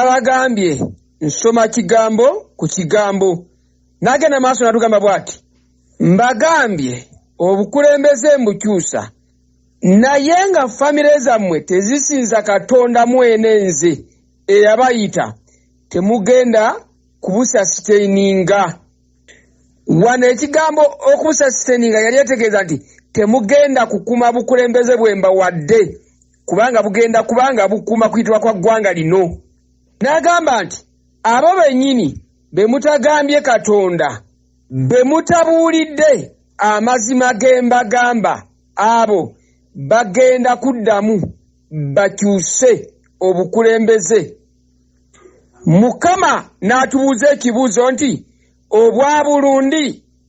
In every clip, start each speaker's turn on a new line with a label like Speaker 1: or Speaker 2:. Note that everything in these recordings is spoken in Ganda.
Speaker 1: nabagambye nsoma kigambo ku kigambo nagenda maaso natugamba bwati mbagambye obukulembeze mbukyusa naye nga famire zammwe tezisinza katonda mwene nze eyabayita temugenda kubusasiteininga wano ekigambo okusasteninga yali etegeeza nti temugenda kukuma bukulembeze bwemba wadde kubanga bugenda kubanga bukuma kuyitibwa kwa ggwanga lino n'agamba nti abo bennyini be mutagambye katonda be mutabuulidde amazima g'embagamba abo bagenda kuddamu bakyuse obukulembeze mukama n'atubuuza ekibuuzo nti obwa bulundi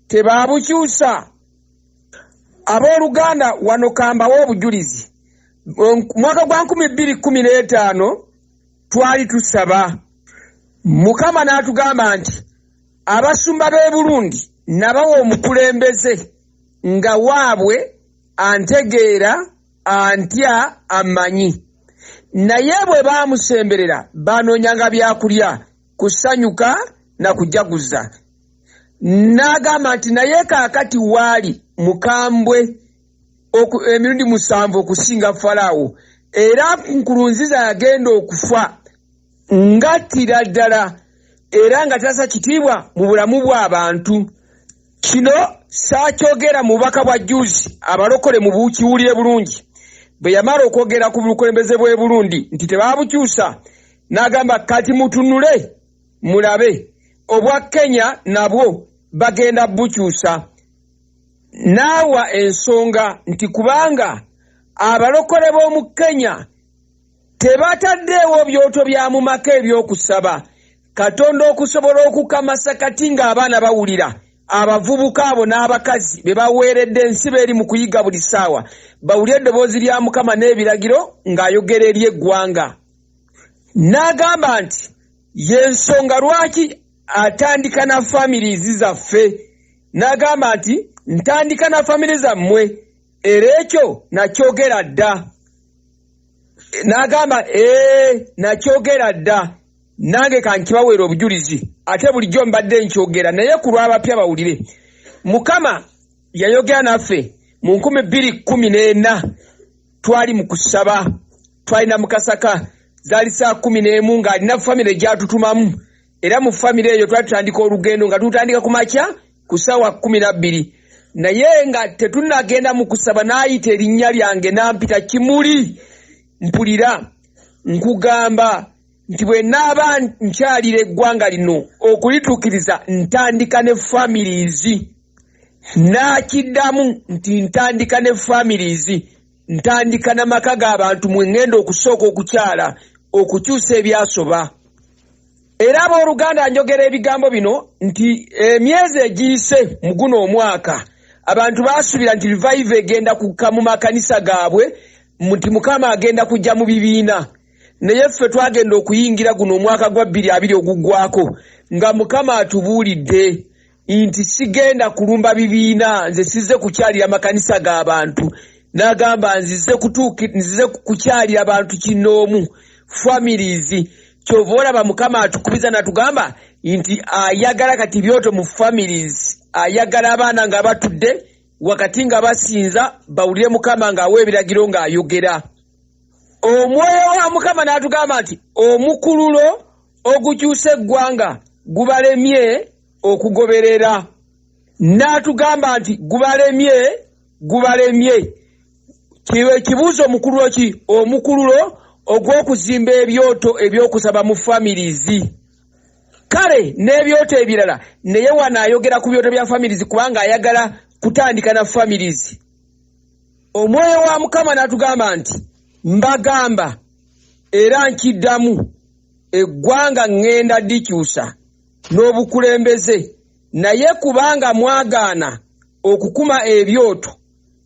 Speaker 1: tebaabukyusa abooluganda wano kambawo obujulizi mwaka gwa nkumi bbiri kkumi n'etaano twali tusaba mukama n'atugamba nti abasumba b'e bulundi nabawa omukulembeze nga waabwe antegeera antya amanyi naye bwe baamusemberera baanoonyanga byakulya kusanyuka na kujaguza n'agamba nti naye kaakati waali mukambwe emirundi musanvu okusinga falaawo era nkurunziza yagenda okufa ngattira ddala era nga tasa kitiibwa mu bulamu bw'abantu kino saakyogera mu bubaka bwa juzi abalokole mu bukiwulire bulungi bwe yamala okwogera ku bukulembeze bw'e burundi nti tebaabukyusa n'agamba kati mutunule mulabe obwa kenya nabwo bagenda bukyusa n'awa ensonga nti kubanga abalokole b'omu kenya Tebataddeewo byoto bya mu maka eby'okusaba Katonda okusobola okukamasa kati ng'abaana bawulira abavubuka abo n'abakazi be baweeredde ensibo eri mu kuyiga buli ssaawa bawulire eddoboozi lya Mukama n'ebiragiro ng'ayogera eri eggwanga. N'agamba nti y'ensonga lwaki atandika na famirizi zaffe n'agamba nti ntandika na famire zammwe era ekyo nakyogera dda. n'agamba ee nakyogera dda nange kankibaweera obujulizi ate bulijjo mbadde nkyogera naye ku lw'abapya bawulire mukama yayogera naffe mu nkumi bbiri kkumi n'ena twali mu kusaba twalina mukasaka zaali saa kkumi n'emu ng'alina famire gyatutumamu era mu famire eyo twali tutandika olugendo nga tutandika ku makya ku ssaawa kumi na bbiri naye nga tetunagenda mu kusaba n'ayita erinnya lyange n'ampita kimuli mpulira nkugamba nti bwe naaba nkyalira eggwanga lino okulituukiriza ntandika ne families n'akiddamu nti ntandika ne families ntandika na maka g'abantu mwe ŋŋenda okusooka okukyala okukyusa ebyasoba era abooluganda njogera ebigambo bino nti emyezi egiyise mu guno omwaka abantu baasuubira nti rivaiva egenda kukka mu makanisa gaabwe nti mukama agenda kujja mu bibiina naye ffe twagenda okuyingira guno omwaka gwa bbiri abiri oguggwako nga mukama atubuulidde nti sigenda kulumba bibiina nze sizze kukyalira makanisa g'abantu n'agamba nzize nzize kukyalira bantu kinnoomu families kyova olaba mukama atukubiza natugamba nti ayagala kati byoto mu families ayagala abaana nga batudde wakati nga basinza bawulire mukama ng'awa ebiragiro ng'ayogera omwoyo wa mukama n'atugamba nti omukululo ogukyusa eggwanga gubalemye okugoberera n'atugamba nti gubalemye gubalemye kiba ekibuuzo omukululo ki omukululo ogw'okuzimba ebyoto eby'okusaba mu famirizi kale n'ebyoto ebirala naye wano ayogera ku byoto bya famirizi kubanga ayagala kutandika na famirizi omwoyo wa mukama n'atugamba nti mbagamba era nkiddamu eggwanga ŋŋenda dikyusa n'obukulembeze naye kubanga mwagaana okukuma ebyoto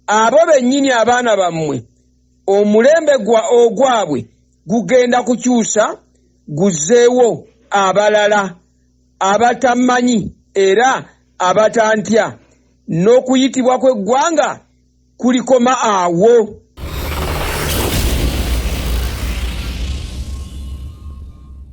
Speaker 1: abo bennyini abaana bammwe omulembe gwa ogwabwe gugenda kukyusa guzzeewo abalala abatamanyi era abatantya n'okuyitibwa kw'eggwanga kulikoma awo